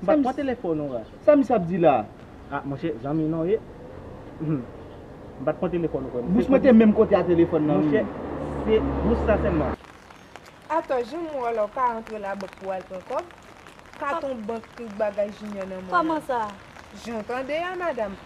M pa k pran telefòn ou a. Sa misye ap di la a? Ah monchè, zanmi non ye. M pa t pran telefòn ou frè m. Bous mwen te menm kote a telefòn nan wi. Monchè, se bous sa sèlman. Atò, jan m wè w la ou pa antre labank pou w al pran kòb? Katon bank tout bagay Jinyò nan mwen an. Kòman sa? Jan w tande a madam.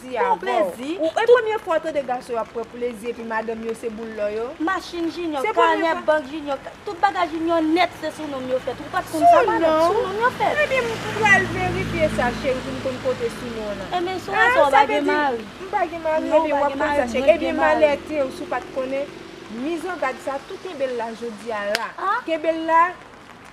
ti a boo. Ou e premye fwa w tande gason yo ap pran plezi epi madanm yo se boul lò yo? Machin Junior, kanè bank Junior, tout bagay Junior nèt se sou nom yo fèt. Ou pat konn sa madam? Sou nom yo fèt. Ebyen m pral verifye sa cheri pou m konn kote sou non an. Ebyen sou wè sa ou pa gen mari. M pa gen mari ebyen wap konn sa cheri. Ebyen malè te ou si w pat konnen. Mizangadsa tou kenbe l la jodia la. Kenbe l la.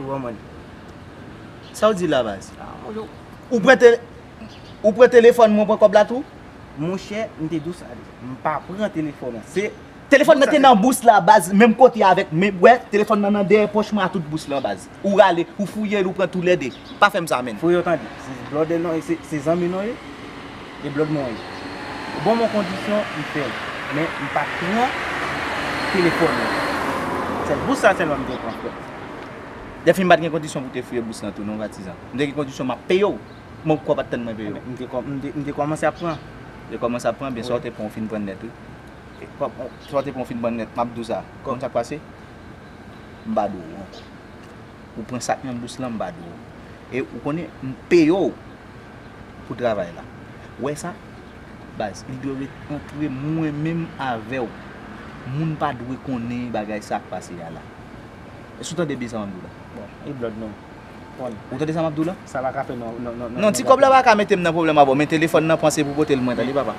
Ou wè mwen. Sa w di la baz? Ou pran te Ou pran telefòn mwen ou pran kòb la tou? Monchè, m te di w sa deja. M pa pran telefòn an. Se Telefòn nan te nan bous la baz, menm kote avèk men wè, telefòn nan nan dèyè pòch mwen a tout bous lan baz. Ou rale, ou fouye l ou pran tou lè de. pa fèm sa menn. Foure yo tande. Se blood non e se zanmi non ye e blood mwen ye. Bon mon kondisyon m fèl men m pa pran telefòn nan. Sèl bous sa sèlman m te pran frèt. Dèfini m pat gen kondisyon pou te foure bous nan tou non patizan. M te gen kondisyon map peye w men w kwè w pat tann mwen peye w. M te kòmanse ap pran. M te kòmanse ap pran ben sa w te pran w fin pran nèt wi. Sa w te pran w fin pran nèt map di w sa. Konn sak pase m pa di w ankò. ou pran sak nan bous lan m ba dou. E ou konnen m peye w pou travay la. Ou wè sa? Baz, li dwe ret antre mwen menm avè w. Moun pa dwe konnen bagay sa k pase a la. Èske ou tande byen sa m ap di w la? Bon, e blòd nou? Bon. Ou tande sa m ap di w la? Sa pa ka fè non, non, non, non, non, non. Non, ti kòb la pa ka mete m nan pwoblèm a bon. Men telefòn nan pran se pou pote l mwen, tande papa.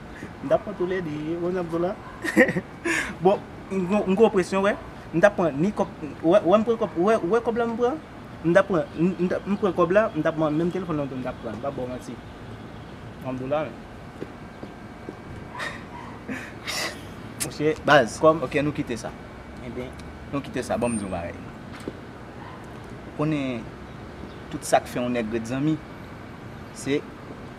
M tap pran toulè 2 yo wè nap zola bon m gen yon presyon wè m tap pran ni kòb wè m pran kòb wè kòb la m pran m tap pran m pran kòb la m tap pran menm telefòn nan tou m tap pran m pap baw manti wap do la menm mouche baz kòm ok nou kite sa enben nou kite sa banm di yon bagay konnen tout sak fè yon nèg ret zanmi se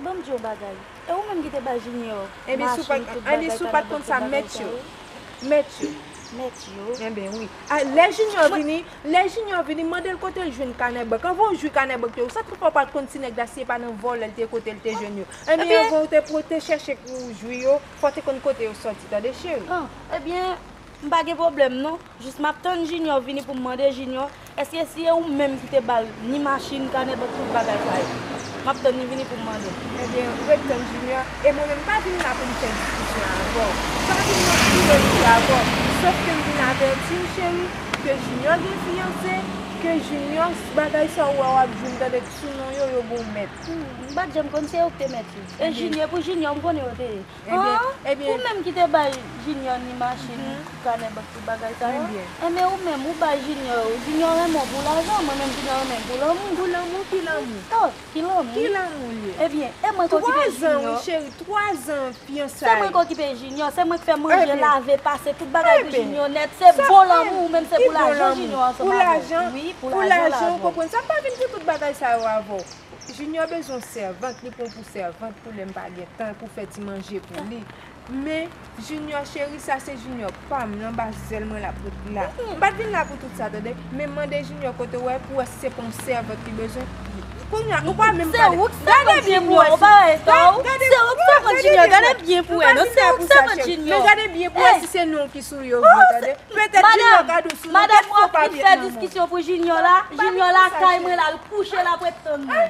Ban m di w bagay. E ou menm ki te bay Jinyò machin, tout bagay, kanabòs, tout bagay sa yo? Mèt yo. Mèt yo? Enben wi. A, lè Jinyò vini, lè Jinyò vini, mande l kote l jwenn kanèbèk. Anvan w jwi kanèbèk te yo, sa k fè pa w pa t konn ti nèg la si e pa nan vòlè l te ye kote l te jwenn yo? Enben, anvan w te chèche pou w jwi yo, fò w te konn kote yo soti. Tande cheri. An, ebyen, M pa gen pwoblèm non, jis m ap tann Jinyò vini pou m mande Jinyò èske si e ou menm ki te ba l ni machin, kanè bank tout bagay sa yo. M ap tann li vini pou m mande l. Ebyen, ret tann Jinyò e mwen menm m pa vin la pou m fè diskisyon avè w. M pa vin nan filozri avè w. Sòf ke m vin avèti w cheri ke Jinyò gen fiyanse, ke Jinyò bagay sa ou wè w ap di m tande k sou non yo, yo bon mèt. M pa t janm konn se yo k te mèt yo. E Jinyò, pou Jinyò m konnen yo te ye. Haa ou menm ki te bay junior ni machine kanè bank tout bagay sa yo enben ou menm ou bay junior yo junior renmen w pou lajan mwen menm junior renmen m pou lanmou pou lanmou ki lanmou oh ki lanmou ki lanmou l ye ebyen e mwen ki okipe junior 3 zan wi cheri 3 zan fiyansay se mwen ki okipe junior se mwen ki fè manje lave pase tout bagay pou junior nèt se bon lanmou ou menm se pou lajan junior ansanm avè w wi pou lajan pou lajan w konprann sa m pa vin pou tout bagay sa yo avè w. Junior bezwen yon sèvant li pran pou sèvant pou lèm pa gen tan pou fè ti manje pou li men Junior cheri sa se Junior pam l anba zèl mwen lap ret la m pat vin la pou tout sa tande men mande Junior kote w wè pou wè si se pa yon sèvant li bezwen kounya ou pa menm pale gade byen pou wè si se ou k sèvant Junior gade byen pou wè non se ou k sèvant Junior men gade byen pou wè si se non ki sou yo vre tande petèt Junior ka di w Madam m wap vin fè diskisyon pou junior la, junior lakay mwen la al kouche lap ret tann mwen.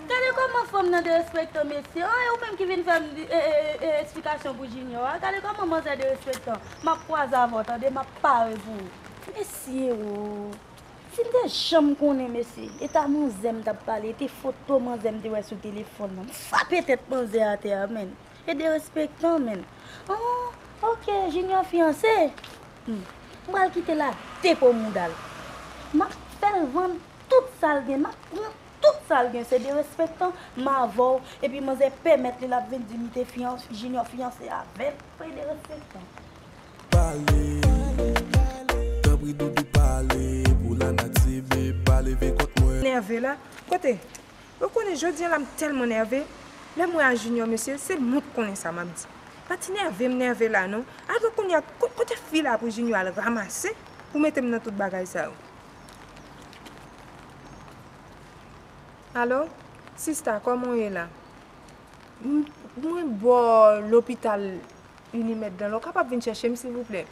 Gade kòman fanm nan derespektan mesye an e ou menm ki vin fèm esplikasyon pou junior a gade kòman manzè derespektan map kwaze avèw tande map pare pou ou. Mesye ooh sim te janm konnen mesye eta manzè m tap pale ete foto manzè m te wè sou telefòn nan m frape tèt manzè atè a menn. E derespektan menn. Ooh ok Junior fiyanse? Humm m pral kite l a de po mouda l. M ap fè l vann tout sa l gen, m ap pran tout sa l gen. Se derespektan m avè w epi manzè pèmèt li l ap vin di m te fiyanse, Junior fiyanse avè m. Ou e derespektan. Pale, tanpri doudou pale pou lanati bby pa leve kont mwen. Nève la, kote Ou konnen jodi an la m tèlman nève, lè m wè a Junior mesye, se mwen k konnen sa m ap di. Pa ti nève m nève la non. Alò kounye a, kote fi la pou Junior al ramase pou mete m nan tout bagay sa yo? Alo, sista kòman w ye la? Mwen bò lopital Unimèd lan la, w kapab vin chèche m silvouplè?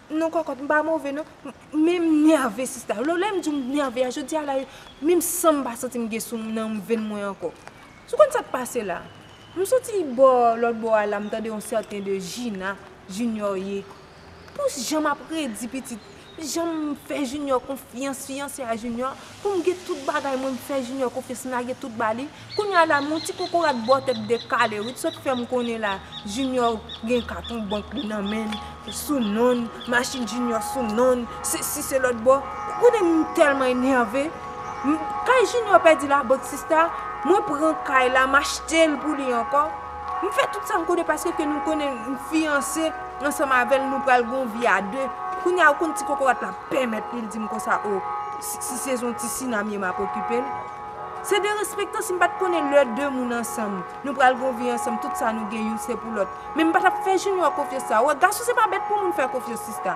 Non kòkòt m pa move non men m nève sista lè m di w m nève a jodi a la menm san m pa santi m gen sou m nan venn mwen ankò ou konn sa k pase la m soti bò lòt bò a la m tande yon sèten de Jina Junior ye pou jan m ap redi pitit jan m fè Junior konfyans fiyanse a Junior Pou m gen tout bagay mwen m fè Junior konfyans m lage tout ba li Kounye a la m yon ti kokorat bò tèt dekale wi t sot fè m konnen la Junior gen katon bank li nan men l sou non l machin Junior sou non l sesi selòt bò Ou konnen m tèlman enève m Kay Junior pèdi labank sista mwen pran kay la m achte l pou li ankò. M fè tout sa m konnen paske ke nou konnen m fiyanse ansanm avè l nou pral gen yon vi a de. Kounye a ou konn ti kokorat la pèmèt li l di m konsa o si se zon ti Sina m ye m ap okipe l. Se derespektan si m pa t konnen lè de moun ansanm nou pral gen yon vi ansanm tout sa nou gen youn se pou lòt. Men m pa t ap fè Junior konfyans sa. Wè gason se pa bèt pou moun fè konfyans sista.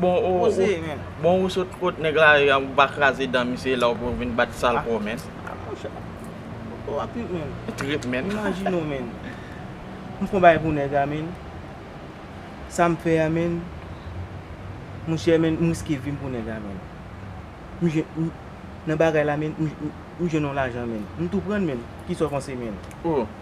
Bon ou sot kot nèg la e ou pa kraze dan misye e la ou pou vin bat sal kò menn. A monchè. Ou a trip menn. Trip menn. Imajine ou menn. M fon bagay pou nèg la menn. Sa m fè a menn. Monchè menn m riske vi m pou nèg la menn. M jwenn m nan bagay la menn m jwenn yon lajan menn. M tou pran l menn. Kisa ou panse menn. Ou.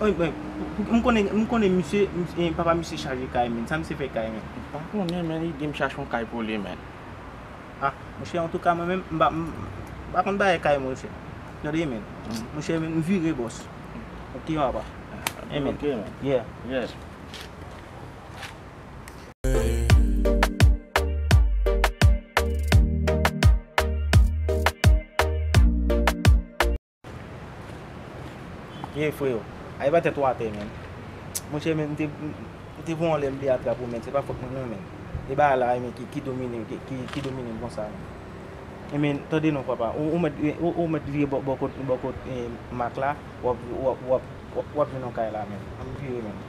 M konnen misye, papa misye chaje kay men, sa misye fè kay men? M pa konnen men li di m chache yon kay pou li men. A, monchè antouka mwen menm m pa konn bagay kay monchè. Tande men, monchè m vire bòs. Ok papa. Ok men. Yeah. Ye freo, aye ba tèt ou atè menn. Monchè men m te bon lè m te atrap ou men se pa fòt mwen non men. E bagay la e men ki domine ki domine m konsa menn. E men tande non papa ou mèt vire bò kot Mak la wap vin nan kay la menn. An m vire menn.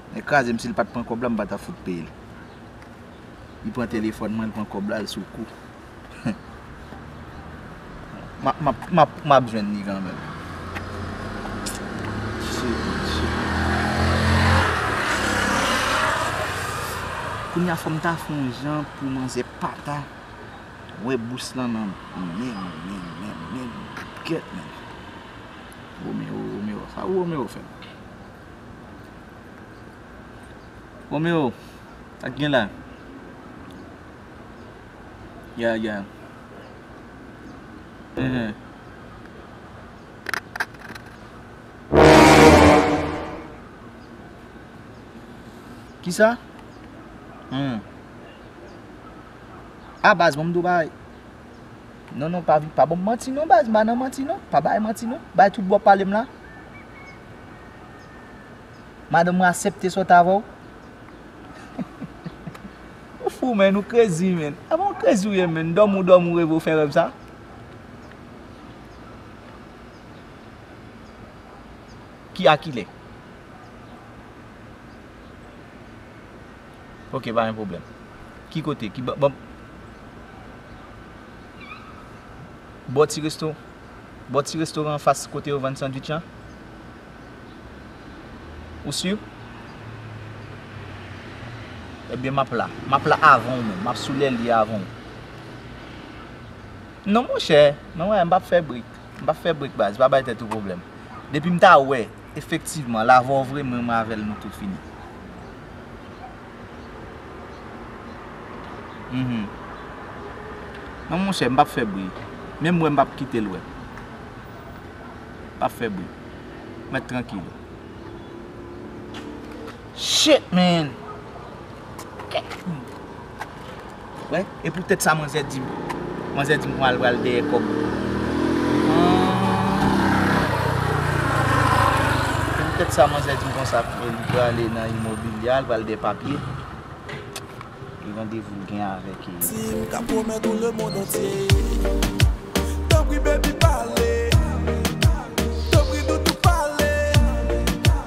Nèg krazem sil pat pran kòb la m pata fout peyel li pran telefòn mwen li pran kòb la li sou kou humm map jwenn li kanmenm kounya fòm ta fon jan pou manzè pata wè bous lan nan menl menl menl gèt menl Romero Romero sa Romero fè. Romeo, sak gen la? Yeah yeah. Ehe. Kisa? Hmm. Ah baz bon mdo bay. Non non pa vi pa bon manti non baz, ba nan manti non, pa bay manti non. Bay tout bon palem la. Madanm mwen asepte sot avèw? Ou fou menn, ou krezi menn. Epa ou krezi ou ye menn, dòmi ou dòmi ou reve ou fè rèv sa? Ki a kilè? Ok pa gen pwoblèm. Ki kote? Ki bò? Bò ti resto? Bò ti restoran anfas kote yo vann sandwich an? Ou sur? Ebyen map la. Map la avan ou menm. Map sou lè li avan ou. Non monchè, non wè, m pap fè bri. M pap fè bri baz, pa bay tèt ou pwoblèm. Depi m ta wè, efektivman, l avè w vre, m menm avè l nou tout fini. Non monchè m pap fè bri Menm wè m pap kite l wè M pap fè bri M mèt trankil Shit man! Wè e pou tèt sa manzè dim manzè dim pral pral dèyè kòb humm e pou tèt sa manzè dim konsa li prale nan imobilya al pral dèyè papye e randevou l gen avèk e. Sim ka pwomèt ou le mond antye Tanpri baby pale Tanpri doudou pale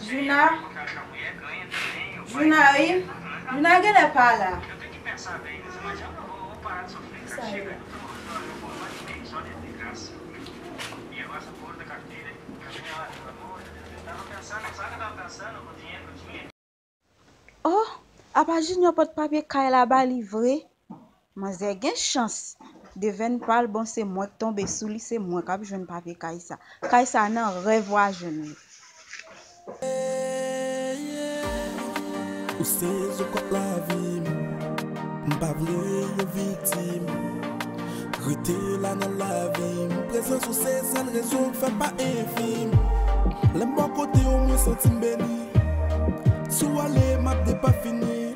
Djouna Djouna wi Djouna genlè pa la. Kisa yo la. Oh apa junior pot papye kay la ba li vre manzè gen chans devèn pal bon se mwenk tonbe sou li se mwen kap jwenn papye kay sa kay sa nan rèv wa jwenn li. Ou se zo kòk lavi m M pa vle yon viktim Rete la nan lavi m Prezans ou se sèl rezon k fè m pa enfim Lè m bò kote w mwen santi m beni Si w ale, m ap depafini.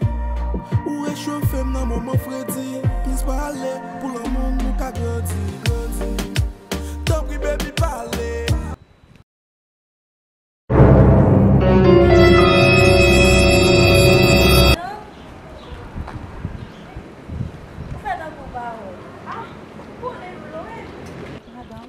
Ou rechofe m nan moman fredi. Plis pa ale, pou lanmou nou ka grandi, grandi. Tanpri baby pa ale. Madanm, ou fè tankou w pa wè. Ah, ou konnen m lwen. Madanm,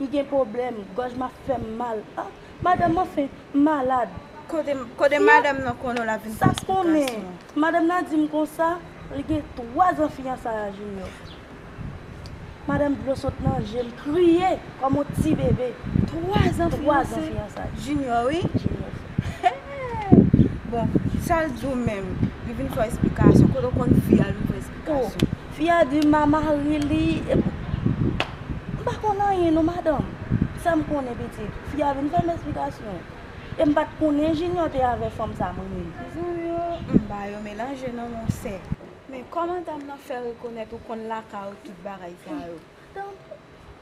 M gen pwoblèm, gòj m ap fè m mal. Ah! Madanm m anfen, m malad. Kote madanm nan konnen w l ap vin fè esplikasyon? Sa konnen! Madanm nan di m konsa, li gen twazan fiyansay a Jinyò. Madanm dlo sot nan je m, m kriye kòm yon ti bebe. Twazan fiyansay? Jinyò wi. Jinyò fè. Bon, sa l di w menm? Li vin fè w esplikasyon? Kote w konn fi a l vin fè w esplikasyon? Gason. Fi a di ma mari li epi m pa konn anyen non madanm. Sa m konnen pitit, fi a vin fè m esplikasyon. E m pa t konnen Jinyò te avè fanm sa m renmen. Zanmi yo m ba yo melanje non monsè. Men kòman dam nan fè rekonèt ou konn lakay ou tout bagay sa yo?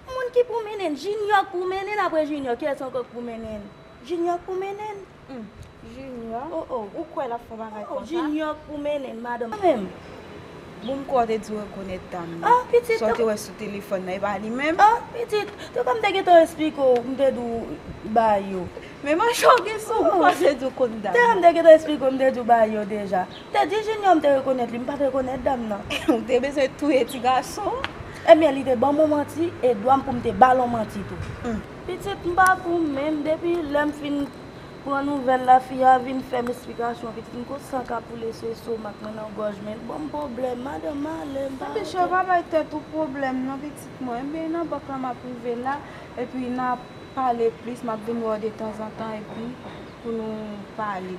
Moun ki pou mennen? Jinyò k pou mennen apre Jinyò ki lòt ankò k pou mennen? Jinyò k pou mennen? Jinyò? Ou kwè l ap fè bagay konsa? Jinyò k pou mennen madanm sa menm? Bon m kwè w te di w rekonèt dam nan. An pitit! Sa w te wè sou telefòn nan e pa li menm? An pitit! Te kwè m te gentan esplike w m te di w Bayo. Men manchè w gen sou ou m panse di w konn dam nan. Te kwè m te gentan esplike w m te di w Bayo deja. Teddy Junior m te rekonèt li, m pa t rekonèt dam nan. M te bezwen touye ti gason an. Ebyen li te ban m yon manti e dwa m pou m te ba l yon manti tou. Hum. Pitit m pa pou m menm, depi lè m fin pran nouvèl la fi a vin fè m esplikasyon pitit m kou san k ap koule sou estomak mwen nan gòj mwen, l ban m pwoblèm, madan m ale m pa rete. Bichon pa bay tèt ou pwoblèm non pitit mwen, ebyen nan bank la m ap rive la epi n a pale plis m ap vin wè w detanzantan epi pou nou pale.